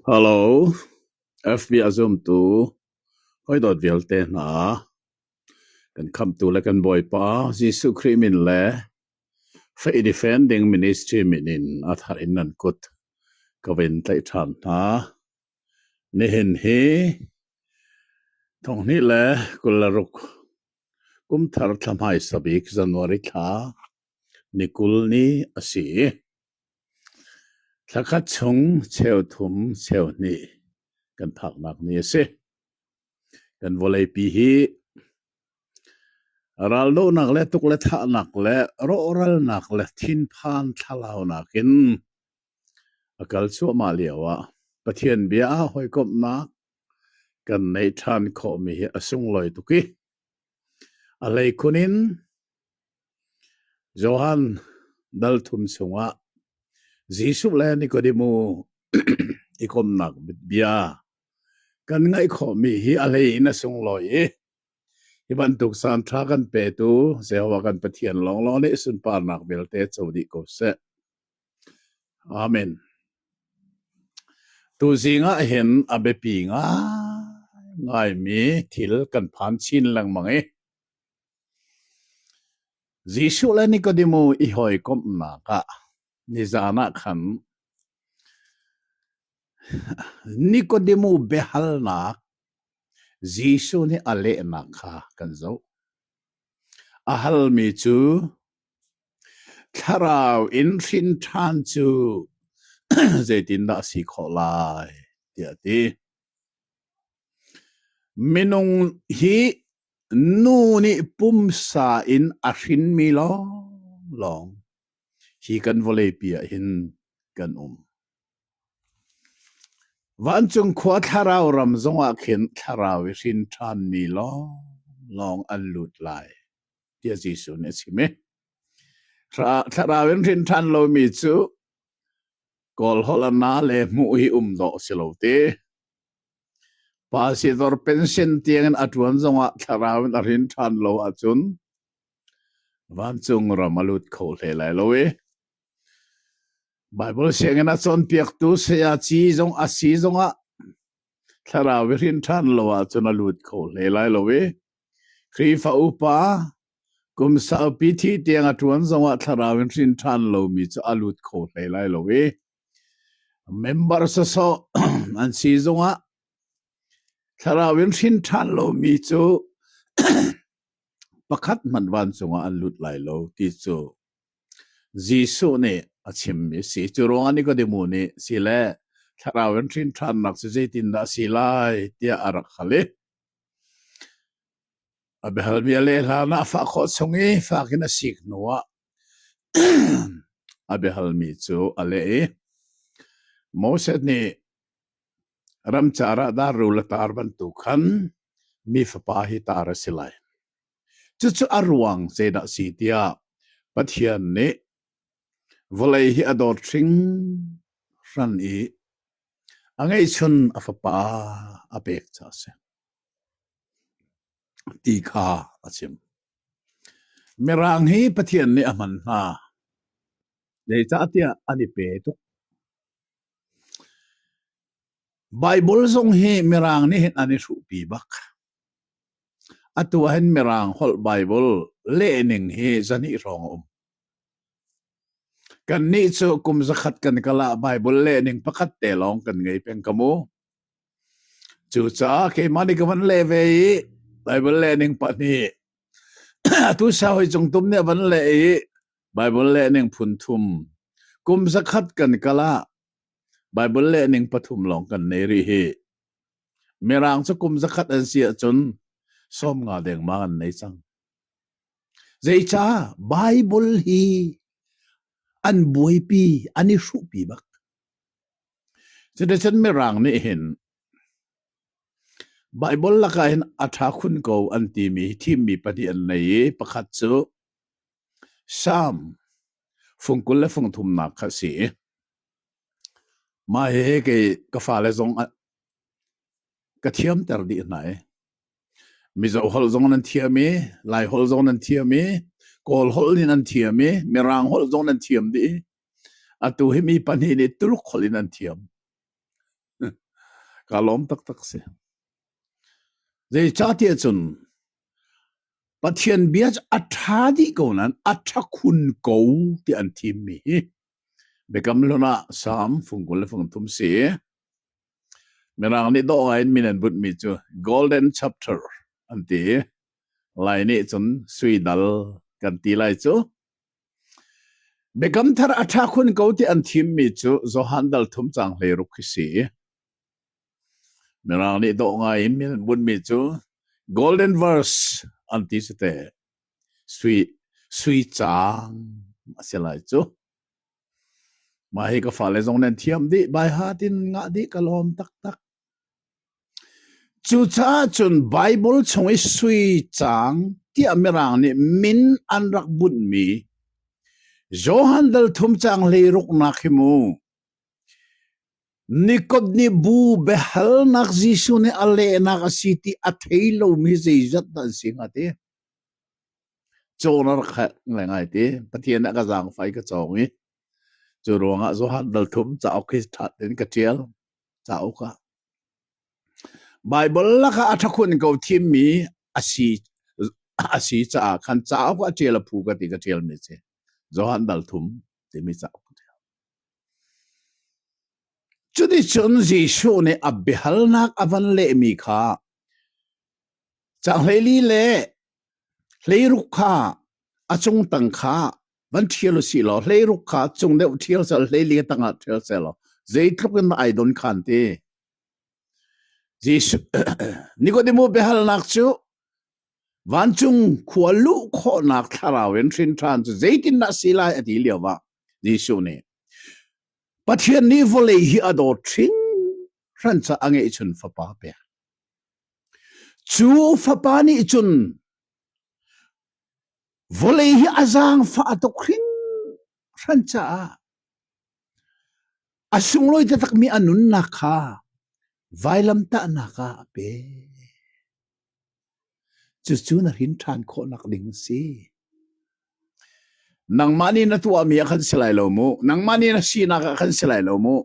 Hello, FB a zumtu hawidawt vialte hna, kan Khamhtu le kan Bawipa Jesuh Khrih min le Faih Defending Ministry min in a thar in nan kut ka vun tlaih ṭhan hna. Nihin hi thonghnih le kul le ruk kumthar thla hmaisa bik January thla ni kul ni a si. Thla khat chung cheu thum cheu hnih kan phaknak ni a si. Kan vawleipi hi raldohnak le tuk le thahnak le rawhralnak le thinphan thlalaunak in a kal cuahmah lio ah Pathian bia a hawikomhnak kan neih ṭhan khawhmi hi a sunglawi tuk i a hleikhun in Johan dal thum chungah Jesuh le Nikodemu i komnak bia kan ngaih khawhmi hi a hleiin a sunglawi i hi bantuk caan ṭha kan petu Jehovah kan Pathian lawnglawng nih sunparnak vialte co dih ko seh. Amen. Tu zingah hin a biapi ngaimi thil kan phan chin lengmang i Jesuh le Nikodemu i hawikomhnak ah nizan ah khan Nikodemu biahalnak Jesuh nih a lehnak kha kan zoh. A halmi cu thlarau in hrin ṭhan cu zeitindah a si khawh lai tiah a ti. Minung hi Nu nih pumsa in a hrinmi lawnglawng hi kan vawleipi ahhin kan um. Vancung khua thlarau ram zongah khin thlarau i hrin ṭhanmi lawnglawng an lut lai, tiah Jesuh nih a chim i thlarau in hrin ṭhan lomi cu kawlholhna le hmuh hi um dawh a si lo ti. Pa sidor pension tiangin a ṭuan zongah thlarau in a rin ṭhan lo ahcun vancung ram a lut kho hle lai lo i Baibal sianginn a cawnpiaktu sayaci zong a si zongah thlarau i rin ṭhan lo ahcun a lut kho hle lai lo i Khrihfa upa kum saupi thi tiang a ṭuan zongah thlarau in rin ṭhan lomi cu a lut kho hlei lai lo i Member sasawh an si zongah thlarau in hrin ṭhan lomi cu pakhat hmanh vancung ah an lut lai lo ti cu Jesuh nih a chimmi a si. Cu ruangah Nikodemu nih si le thlarau in hrin ṭhannak cu zeitindah a si lai tiah a rak hal i a biahalmi a leh hlan ah fah khawh chung i fak in a sik hnuah A biahalmi cu a leh i, Moses nih ramcar ah darrul a tar bantuk khan mi fapa hi tar a si lai. Cucu a ruang zeidah si tiah Pathian nih vawlei hi a dawt hringhran i a ngeihchun a fapa a pek ca a si. ti kha a chim. Mirang hi Pathian nih a hman hna. Zeicahtiah an i pe tuk. Bible zong hi Mirang nih hin an i hruhpi bak. Atu ah hin Mirang holh Bible lehning hi zahnih hrawng a um. Kan nih cu kum zakhat kan kala Bible lehning pakhat te lawng kan ngei peng ka mu. Cucaah keimah nih ka van leh ve i Baibal lehning pahnih atu sa hoi cung tum nih a van leh i Baibal lehning phun thum kum zakhat kan kal ah Baibal lehning pathum lawng kan nei rih hi. Mirang cu kum zakhat an si ahcun sawm nga dengmang an nei cang. Zeicah Baibal hi an buaipi, an i hruhpi bak. Citizen mirang nih hin Baibal lakah hin a ṭha khun ko an timi thimmi pahnih an nei i pakhat cu Salm fungkul le fungthumnak kha a si i mah hihi kei ka fale zong ah ka thiamter dih hna i Mizo holh zong nan thiam i Lai holh zong nan thiam i Kawl holh nih nan thiam i Mirang holh zong nan thiam dih i Atu hi mi pahnih nih Tuluk holh in an thiam. Kaa lawm taktak si. Zeicahtiah cun Pathian bia cu a ṭha dih ko nain a ṭha khun ko ti an thimmi hi Biakam hlun ah Salm fung kul le fung thum si. Mirang nih dawh ngai in min an bunh mi cu Golden Chapter an ti. Lai nih cun suidal kan ti lai cu. Biakam Thar a ṭha khun ko ti an thimmi cu Johan Dal Thum Caang Hlei Ruk hi si. Mirang nih dawh ngai in bunmi cu Golden Verse an ti si te. Sui, sui caang a si lai cu. Mah hi ka fale zong nan thiam dih, bai ha tin ngah dih ka lawm taktak. Cucaah cun Baibal chung i sui caang tiah Mirang nih min an rak bunhmi Johan Dalthum caang hleiruknak hi mu, Nikot nih bu biahalnak Jesuh nih a lehnak a si ti a thei lomi zeizat dah an si hnga ti cawn a rak herh ngaingai ti. Pathian nih a ka zaangfai ka cawng i cu ruangah Johan Dalthum cauk hi ṭhat in ka ṭial. cauk ah Baibal lakah a ṭhakhun ko thimmi a si a si caah khan cauk ah ṭial a phu ka ti ka ṭialmi a si Johan Dalthum timi cauk Cuticun Jesuh nih a biahalnak a van lehmi kha canghleili le hleiruk kha a cung tang kha Van ṭhial u si law hleiruk kha cung deuh ṭhial sel, hleilian tangah ṭhial sel law zeitluk in ai don khan ti. Jesuh Nikodemu biahalnak cu vancung khua luh khawhnak thlarau in hrin ṭhan cu zeitindah si lai a ti lio ah Jesuh nih Pathian nih vawlei hi a dawt hringhran ca a ngeihchun fapa pe. Cu fapa nih cun Vawlei hi a zaangfah tuk hringhran caah a sunglawi taktakmi a nunnak kha vailamtahnak ah a pe. Cucu na hrin ṭhan khawhnak ding a si. Nangmah nih na tuahmi ah khan si lai lo mu. Nangmah nih na sinak ah khan si lai lo mu.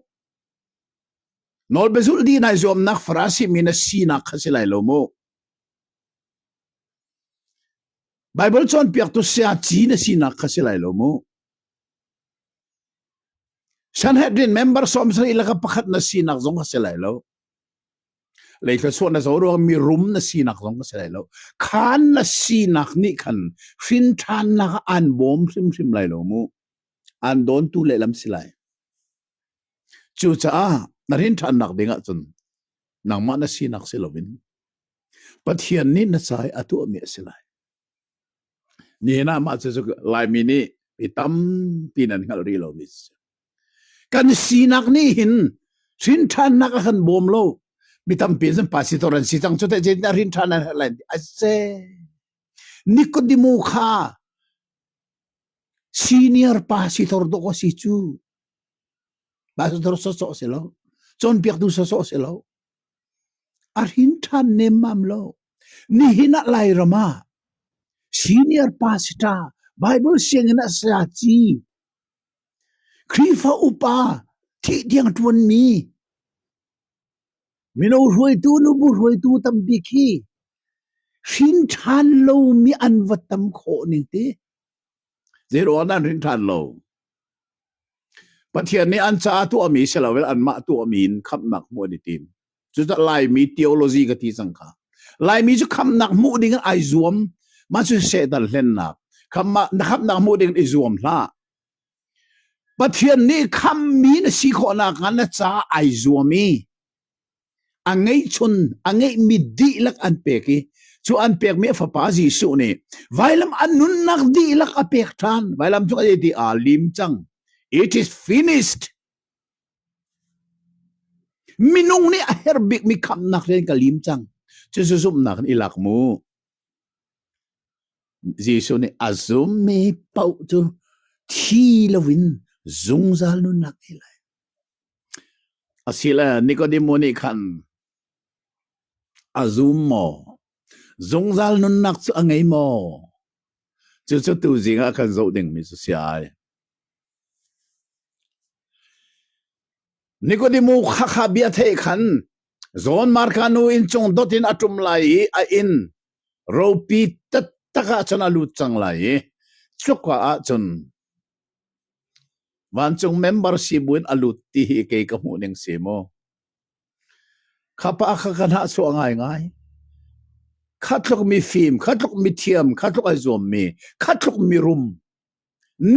Nawlbezulh di nai zuamnak Farasi mi na sinak kha si lai lo mu. Baibal cawnpiaktu sayaci na sinak kha si lai lo mu. Sanhedrin member sawmsarih le pakhat na sinak zong kha si lai lo. Leithlasuah na zo ruang mi rum na sinak zong ka si lai lo. Khan na sinak nih khan hrinthannak aan bawm hrimhrim lai lo mu. Aan dawntu lehlam si lai. Cucaah na rinthannak ding ahcun nangmah na sinak si loin Pathian nih na ca hi a tuahmi a si lai. Nihin ah mah cu Laimi nih mi tampi nan hngalh rih lomi a si. Kan sinak nih hin hrinthannak a kan bawm lo. Mi tampi in pastor an si cang cu teh zeitindah hrinthan an lai a se. Nikodemo kha senior pa si thor dawk a si cu. Pastor sawsawh si lo. Cawnpiaktu sawsawh si lo. A hrin ṭhan nemmam lo. Nihin ah Lairam ah senior pastor Bible sianginn ah saya ci, Khrihfa upa, thih-tiang ṭuanmi, mino hruaitu, nubu hruaitu tambik hi hrin ṭhan lomi an va tam khawh ning ti. Zeiruangah an hrin ṭhan lo? Pathian nih an caah tuahmi si loin anmah tuahmi in khamhnak hmuh an i tim. Cucaah Laimi theology ka ti cang kha. Laimi cu khamhnak hmuh ding in ai zuam. Mah cu Satan hlennak. Khamhnak na khamhnak hmuh ding in i zuam hlah. Pathian nih khammi na si khawh nakhnga na caah ai zuam i a ngeihchun a ngeihmi dihlak an pek i cu an pekmi a fapa Jesuh nih vailam an nunnak dihlak a pek ṭhan vailam cu a ti aa lim cang it is finished minung nih a her bikmi khamnak rian ka lim cang cucu zumhnak in i lak mu Jesuh nih a zummi paoh cu thi loin zungzal nunnak i lai Asile Nikodemo nih khan a zum maw? Zungzal nunnak cu a ngei maw? Cucu tuzing ah kan zoh dingmi cu si ai. Nikodemo khakha bia thei khan John Marka nu inn cung dot in a ṭum lai i a inn ropi tattak ah cun a lut cang lai i cuka ah cun Vancung member si buin a lut ti hi kei ka hmuh ning si maw? Kha pa kha ka hnahchuah ngaingai. Kha tluk mi fim, kha tluk mi thiam, kha tluk ai zuam mi, kha tluk mi rum,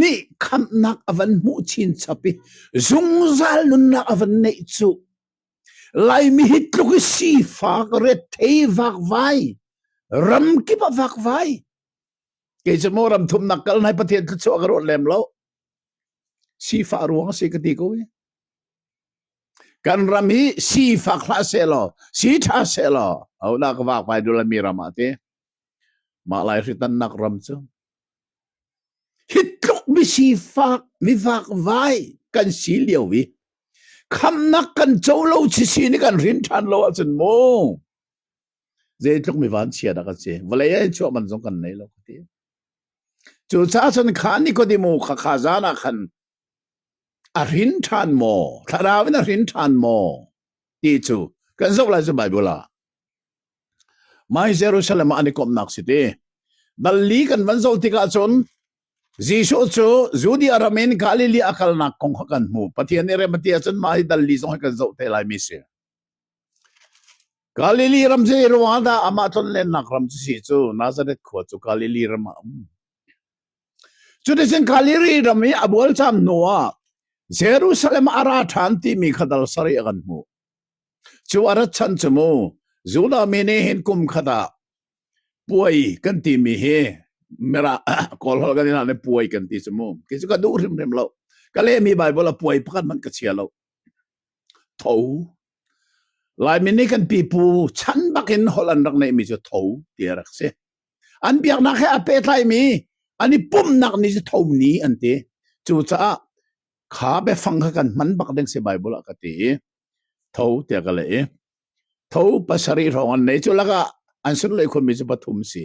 nih khamhnak a van hmuh chin chap i zungzal nunnak a van neih cu. Laimi hi tluk i sifak, ret thei vakvai, ram kip a vakvai. kei cu maw ram thumnak kal nai pathian thluachuah ka rawt lem lo sifah ruang si ka ti ko i kan ram hi sifak hlah se law si tha se law au da ka wak pai dula mi ram ah ti mah lai hri tan nak ram cu hit tluk mi sifak mi vak vai kan si liao vi khamnak kan cho lo chi si ni kan rin than lo ahcun mu Zeitluk mi vanchia dah kan si. Vawlei ah chuah man zong kan nei lo ka ti. Cu caah cun kha Nikodemo kha kha zan ah khan a rin ṭhan maw? Thlarau in a rin ṭhan maw? Ti cu kan zoh lai cu Bible ah. Mai Jerusalem ah an i komnak si ti. Dalli kan van zoh tikah cun Jesuh cu Judea ram in Galilee a kalnak kong kha kan hmu. Pathian i remati ah cun mah hi dalli zong hi kan zoh te lai mi si. Galili ram zeiruangah dah amah tlonlennak ram cu si cu Nazareth khua cu Galili ram ah a um. Cuticun Galili ram i a bualcam hnuah Jerusalem a ra ṭhan timi kha dal sarih a kan hmuh. Cu a rat chan cu mu Judah mi nih hin kum khat ah puai kan timi hi Mirah Kawlholh kan i hlan i puai kan ti cu mu. Kei cu ka duh hrimhrim lo. Ka lehmi Baibal ah puai pakhat hmanh ka chia lo. tho. Laimi nih kan pipu chan bakin holh an rak neihmi cu tho ti a rak si. An biaknak he a pehtlaimi an i pumhnak ni cu tho ni an ti. Cucaah kha biafang kha kan hman bak ding si Bible ah ka ti i tho tiah ka leh i tho pasarih hrawng an nei cu lakah an sunlei khunmi cu pathum si.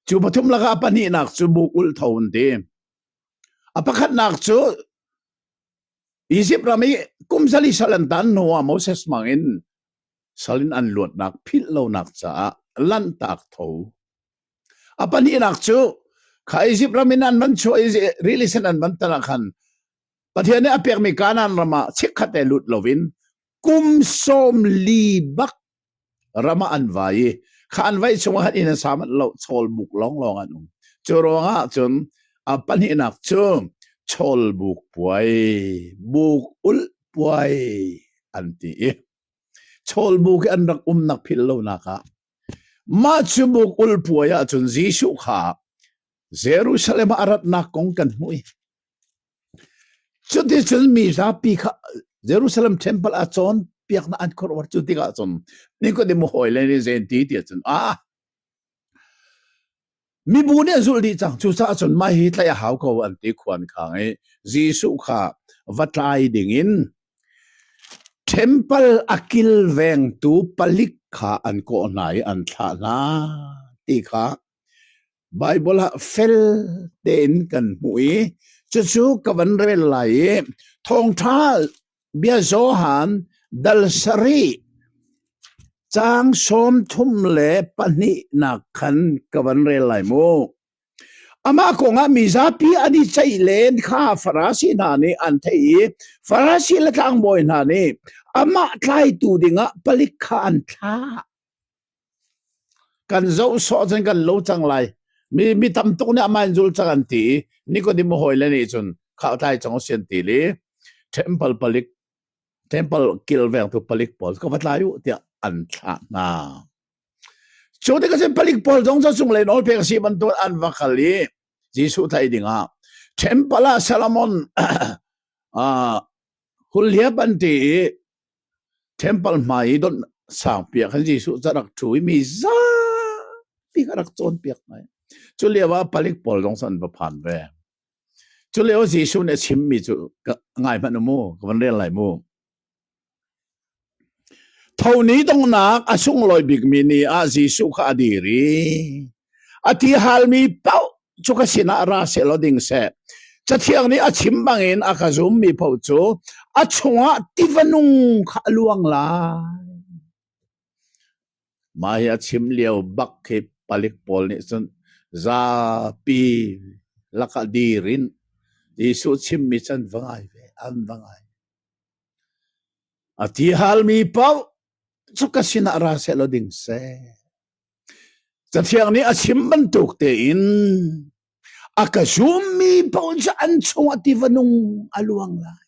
Cu pathum lakah pahnihnak cu buk ul tho an ti. A pakhatnak cu Izipt ram i kum zali sal an tan hnuah Moses mangin salin an luatnak philh lonak caah lanhtak tho. A pahnihnak cu kha Izipt ram in an van chuah i rilisen an van tan ah khan Pathian nih a pekmi Kanaan ram ah chikkhat e lut loin kum sawm li bak ram ah an vai i kha an vaih chung ah inn a sa manh lo chawlbuk lawnglawng an um cu ruangah cun a pahnihnak cu chawlbuk puai buk ul puai an ti i chawlbuk i an rak umnak phil lonak ah mah cu buk ul puai ah cun Jesuh kha Jerusalem ah a ratnak kong kan hmuh i Cuticun mi zapi kha Jerusalem Temple ah cawnpiaknak an khuaruah. Cu tikah cun Nikodemu hawile nih zei ti ti cun, aa, mibu nih an zulh dih cang. Cucaah cun mah hi tlaih a hau ko an ti khuan khang i Jesuh kha va tlai dingin Temple a kilvengtu palik kha an kawh hna i an thlah hna ti kha Baibal ah fel tein kan hmuh i cucu ka van rel lai i thawngṭha bia Johan dal sarih caang sawm thum le pahnihnak khan ka van rel lai mu. Amah kongah mi zapi an i ceih len kha Farasi hna nih an theih i Farasi le tlangbawi hna nih amah tlaitu dingah palik kha an thlah. Kan zoh sawh cun kan lo cang lai. Mi, mi tam tuk nih amah in zul cang an ti i Nicodim a hawile nih cun khahtlai cang u si an ti li. Temple palik, temple kilvengtu palik pawl ka va tlai u tiah an thlah hna. Cu ti ka sin palik pawl zong cu sunglein olpek a si bantuk an va kal i Jesuh thai dingah temple ah Solomon uh, hulhia panti i Temple hmai i don sangpiak in Jesuh cu a rak ṭhu i mi zapi kha a rak cawnpiak hna i cu lio ah palik pawl zong an va phan ve. Cu lio Jesuh nih a chimmi cu ngai hmanh u mu, ka van rel lai mu. Thoni dongnak a sunglawi bikmi ni ah Jesuh kha a dir i A ti halmi paoh cu ka sinah ra sehlaw ding seh. Cathiang nih a chim bangin a ka zummi paoh cu a chungah tiva nung kha a luang lai. Mah hi a chim lio bak khi palik pawl nih cun zapi lakah dir in Jesuh chimmi can va ngai ve, an va ngai. A ti halmi paoh cu ka sinah ra sehlaw ding seh. Cathiang nih a chim bantuk tein a ka zummi paoh cu an chungah tiva nung a luang lai.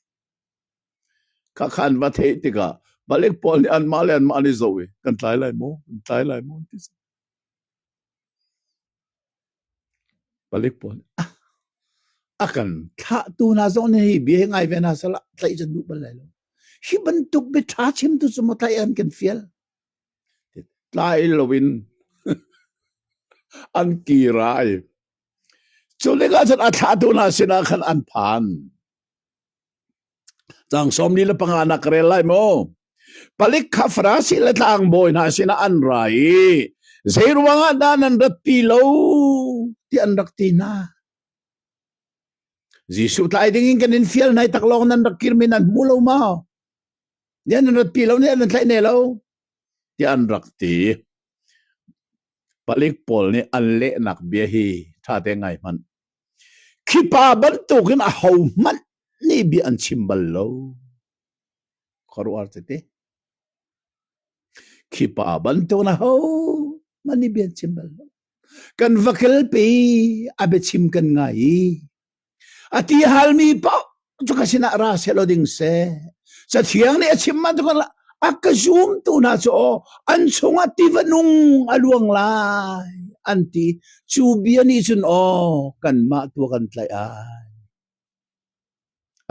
Ka khan va theih tikah balik pawl nih anmah le anmah an i zoh i kan tlai lai maw? Kan tlai lai maw? Ti balik pawl nih ah, a kan thlahtu hna zong nih hi bia hi ngai ve hna salah tlaih can duh bal lai lo. Hi bantuk bia ṭha chim tu cu mo tlaih an kan fial. Tlai lo in an kir ai. Cu tikah cun a thlahtu hna sinah khan an phan. Tlang sawm li le panga nak rel lai maw? Palik kha Farasi le tlangbawi hna sinah an ra i zeiruangah dah nan rat ti lo ti an rak ti hna. Jesuh tlai dingin kan in fial nai tak lawng nan rak kirmi nan hmu lo maw? Nih an rat pi lo, nih an tlaih ne lo, tiah an rak ti. Palik pawl nih an lehnak bia hi ṭha te ngai hmanh. Khipa bantuk in a ho hmanh nih bia an chim bal lo. Khuaruar tete. Khipa bantuk na ho hmanh nih bia an chim bal lo. Kan va kel pi, a biachim kan ngai i, A ti halmi paoh cu ka sinah ra sehlaw ding seh. Cathiang nih a chim bantuk a ka zumtu hna cu aw an chungah tiva nung a luang lai an ti cu bia nih cun aw kanmah tua kan tlaih ai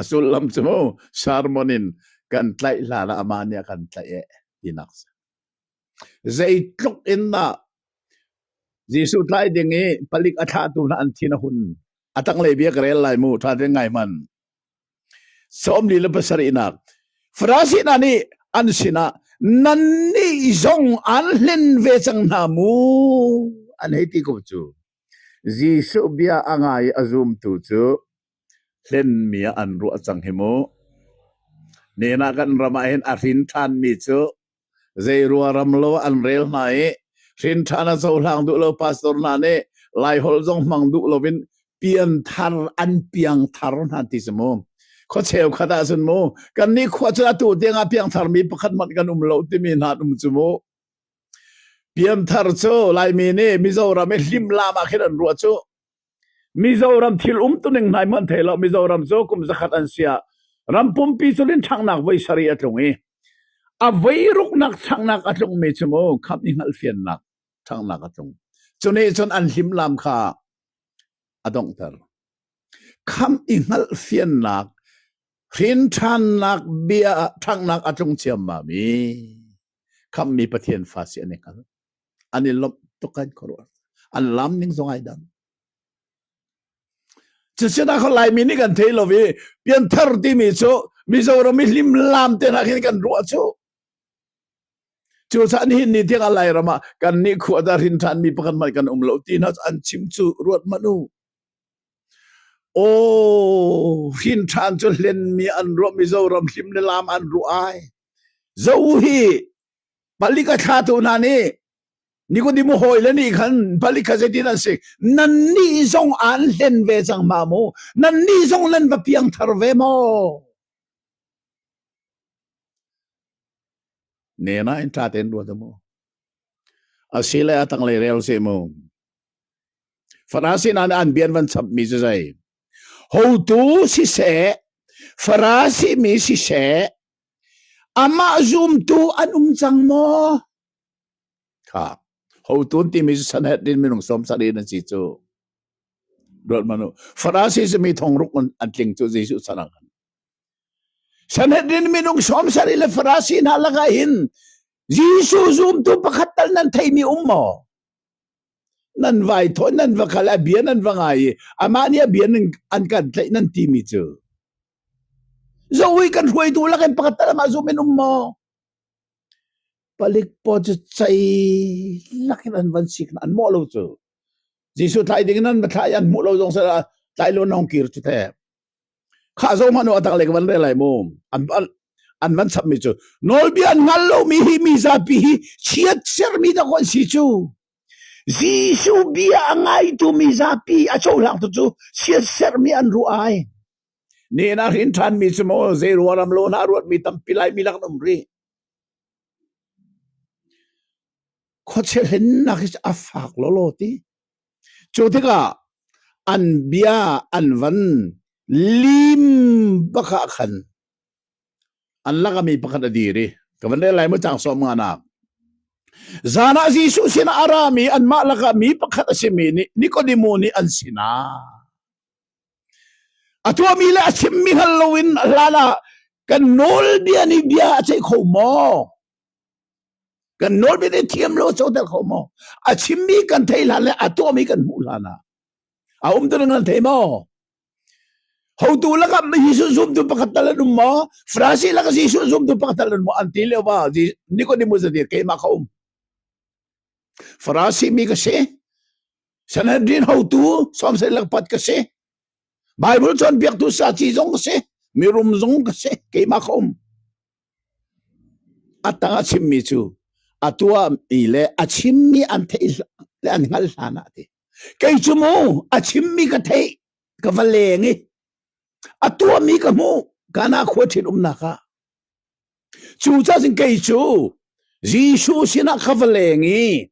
a sullam cu mu sermon in kan tlaih hlan ah amah nih a kan tlaih eh tinak si Zeitluk in dah Jesuh tlai ding i palik a thlahtu hna an thin a hun, a tanglei bia ka rel lai mu ṭha tein ngai hman. Sawm li le pasarihnak, Farasi hna nih an sinah, nannih zong an hlen ve cang hna mu, an hei ti ko cu. Jesuh bia a ngai i a zumtu cu hlenmi ah an ruah cang hi mu. Hnenah kan ram ah hin a hrin ṭhanmi cu Zeiruang ram lo an rel hna i hrinṭhan a cohlang duh lo pastor hna nih Laiholh zong hmang duh loin pian thar an piang thar hna ti si mu. Khua cheukhat ah cun mu kan nih khua cu atu tiang ah piang thar mi pakhat man kan um lo timi hna um cu mu. Pian thar cu Laimi nih Mizoram i hlim lam ah khin an ruah cu Mizoram thil um tuning hnai hmanh thei lo Mizoram cu kum zakhat an sia ram pumpi cu lin ṭhangnak voi sari a tlung i a voi ruknak changnak a tlungmi cu mu khap i hngalhfiannak changnak a tlung cu nih cun an hlimlam kha a donghter kham i hngalhfiannak hrin ṭhannak bia ṭhangnak a tlung ciammam i khammi Pathian fa si an i hngal an i lomh tuk kan khuaruah an lam ning zong ai dang cusinak laimi nih kan thei lo i pianthar timi cu mizoram i hlim lam te nak hin kan ruah cu cu san hin ni thiang alai rama kan ni khua da rin than mi pakhat man kan um lo ti na an chim cu ruat manu o rin than cu hlen mi an ruah mizoram hlim le lam an ru ai zo hi Palik a thlatu hna nih Nikodemu hawile nih khan palik kha zeitin an si? Nannih zong aan hlen ve cang ma mu? Nannih zong nan va piangthar ve maw? Nena in ṭa tein ruat mu. Asile a tanglei rel si mu. Farasi hna nih an bian van chapmi cu zei? Hotu siseh, Farasi mi siseh, Amah zumtu an um cang maw? Kha hotu timi cu Sanhedrin minung sawmsarih an si cu. Ruathmanh u. Farasi simi thongruk an tling cu Jesuh sanak in. Sanhedrin minung sawmsarih le farasi hna lakah hin Jesuh zumtu pakhat tal nan theimi um maw? Nan vai thawi, nan va kal, a bia nan va ngai i amah nih a bia nan, an kan tlaih nan timi cu. Zoh hi kan hruaitu lakin pakhat ta lamah zum in um maw? Palik paw cu cei lakin an van sik an mawh lo cu. Jesuh tlai ding in an va thlai an hmuh lo zong seh tlai lo nong kir cu the. Khah zo hmanu atak le van le lai mu. An an an van chap mi cu nawlbia an ngal lo mi hi mi zapi hi chiat ser mi da kon si cu. Jesuh bia a ngaitu mi zapi a cohlang tu cu chiat ser mi an ru ai. Nehnak hrin ṭhanmi cu maw zei ruaram lawn ah ruatmi tampi Laimi lak an um rih. Khuachia hlennak hi cu a fak lawlaw ti. Cu tikah an bia an van lim bakah khan an lakami pakhat a dir i ka van rel lai mu cang sawm nga nak. Zan ah Jesuh sinah a rami anmah lakah mi pakhat a simi nih Nikodimu nih an sinah A tuahmi le a chimmi hngal loin hlan ah kan nawlbia nih bia a ceih kho maw? Kan nawlbia nih thiam lo a coter kho maw? A chimmi kan thei hlan le a tuahmi kan hmuh hlan ah a um tu nan thei maw? Hotu lakah Jesuh zumtu pakhat tal an um maw? Francis lakah Jesuh zumtu pakhat tal an um maw? An ti leo ba Nicodemus a dir keimah ka um. Farasi mi ka si. Sanhedrin hotu Samson Langpat ka si. Bible cawnpiaktu saci zong ka si. Mirum zong ka si. Keimah ka um. A tang a chimmi cu a tuami le a chimmi an theih le an hngal hlan ah ti. Kei cu mu a chimmi ka theih ka va leng i a tuami ka mu kana khua thin umnak ah. Cu ca sin kei cu Jesuh sinah ka va leng i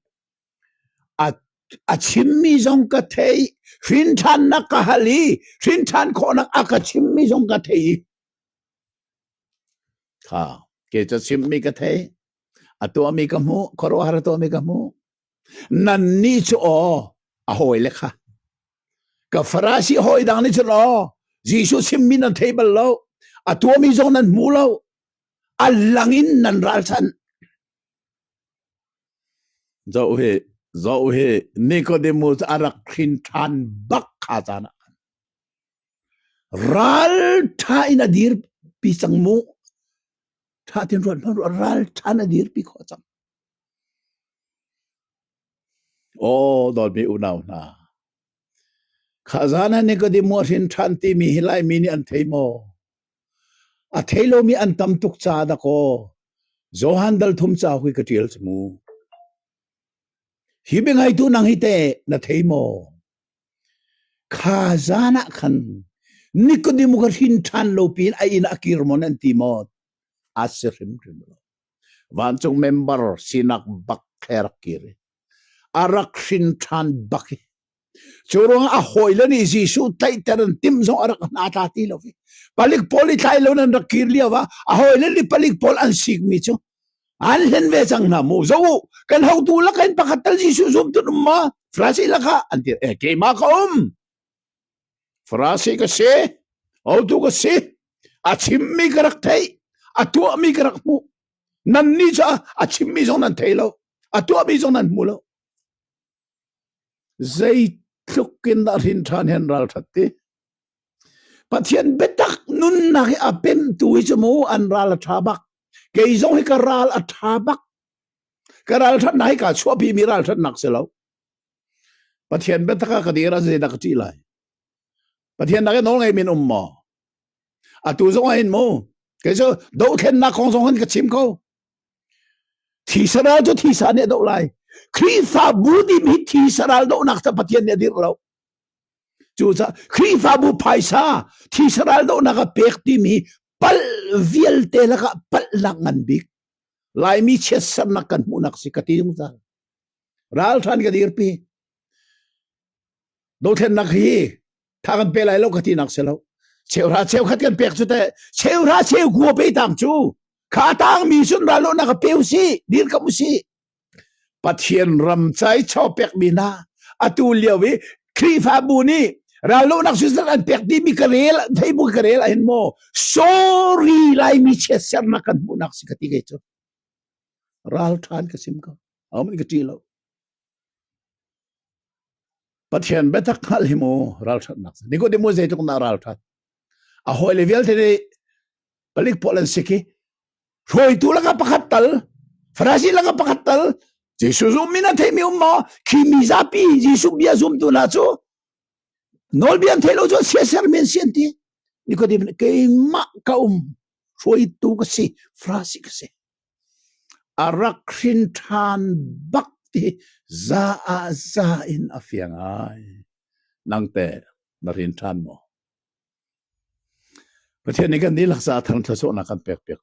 A chimmi zong ka theih i hrinthannak ka hal i hrinthan khawhnak a ka chimmi zong ka theih i kha ke cu chimmi ka thei a tuahmi ka hmuh khuaruahhar a tuahmi ka hmuh nannih cu aw a hawile kha ka farasi hawi dang nih cun aw Jesuh chimmi nan thei bal lo a tuahmi zong nan hmu lo a lang in nan ralchanh Zoh hi, zoh hi, Nicodemus a rak hrin ṭhan bak kha caan ah khan. Ral ṭha in a dirpi cang mu. Ṭha tin ruat hmanh ruat, ral ṭhan a dirpi khawh cang. Aw, dawtmi unau hna. Kha zan ah Nicodemus a hrin ṭhan timi hi lai mi nih an thei maw? A thei lomi an tam tuk caah dakaw Johan dal thum ca hui ka ṭial cu mu. Hi biangaitu nang hi te na thei maw? Kha zan ah khan Nikodemu ka hrin ṭhan lo piin a inn ah a kir maw nan ti maw? A si hrimhrim lo. Vancung member sinak bak thler kir i a rak hrin ṭhan bak hi Cu ruangah a hawile nih Jesuh tlaihter an timh zong a rak hna tla ti lo i palik pawl i tlai lo in an rak kir lio ah a hawile nih palik pawl an sikmi cu an hlen ve cang hna mu zoh u kan hotu lak in pakhat tal Jesuh zum tu um ma Farasi lakah an dir e keimah ka um Farasi ka si hotu ka si a chimmi ka rak theih a tuahmi ka rak hmuh nanni cu a chimmi zong nan thei lo a tuahmi zong nan hmu lo Zeitluk in dah hrin ṭhan hen ralṭhat ti. Pathian biatak nunnak hi a pemtu hi cu mu an ral a ṭha bak. Kei zong hi ka ral a ṭha bak. Ka ralṭhatnak hi kaa chuahpimi ralṭhatnak si lo. Pathian biatak ah ka dir ah zeidah ka ṭih lai? Pathian nakin nawl ngei min um maw? Atu zong ah hin mu, kei cu dohthlennak kong zong hin ka chim ko. Thisa ral cu thisa nih a doh lai. Khrihfabu dim hi thisa ral dohnak cu Pathian nih a dirh lo. Cucaah Khrihfabu phaisa thisa ral dohnak a pek timi pal vialte lakah palhnak ngan bik Laimi chiatsernak kan hmuhnak si ka ti zungzal. Ralthan ka dirpi. Dothlennak hi tha kan pe lai lo ka tinak si lo cheuhra cheu khat kan pek cu te cheuhra cheu gua pe tang cu kha tang mi sun ra lo na ka pe si dir ka si pathian ram chai cho pek mi na atu lio i khrifabu ni ralo nak su an pek ti mi ka rel thei bu ka rel ahin mo sorry lai mi che ser na kan bu nak si ka ti ge chu ral than ka sim ko amin ka ti lo Pathian biatak hngalh hi mu ralthatnak si. Nikodemu zeitluk na ralthat. A hoi le vialte ni palik polan siki. Hruaitu laka pakhat tal. Farasi laka pakhat tal. Jesu zum mina thei mi um ma. Khi mi zapi Jesu bia zum tu na chu. Nolbian thelo chu sia ser men sian ti. Nikodem keima ka um hruaitu ka si. Farasi ka si. A rak hrin ṭhan bak i za ah za in a fiang ai. Nangte na hrin ṭhan maw? Pathian nih kan dihlak caah thangṭhat sualnak kan pek piak ko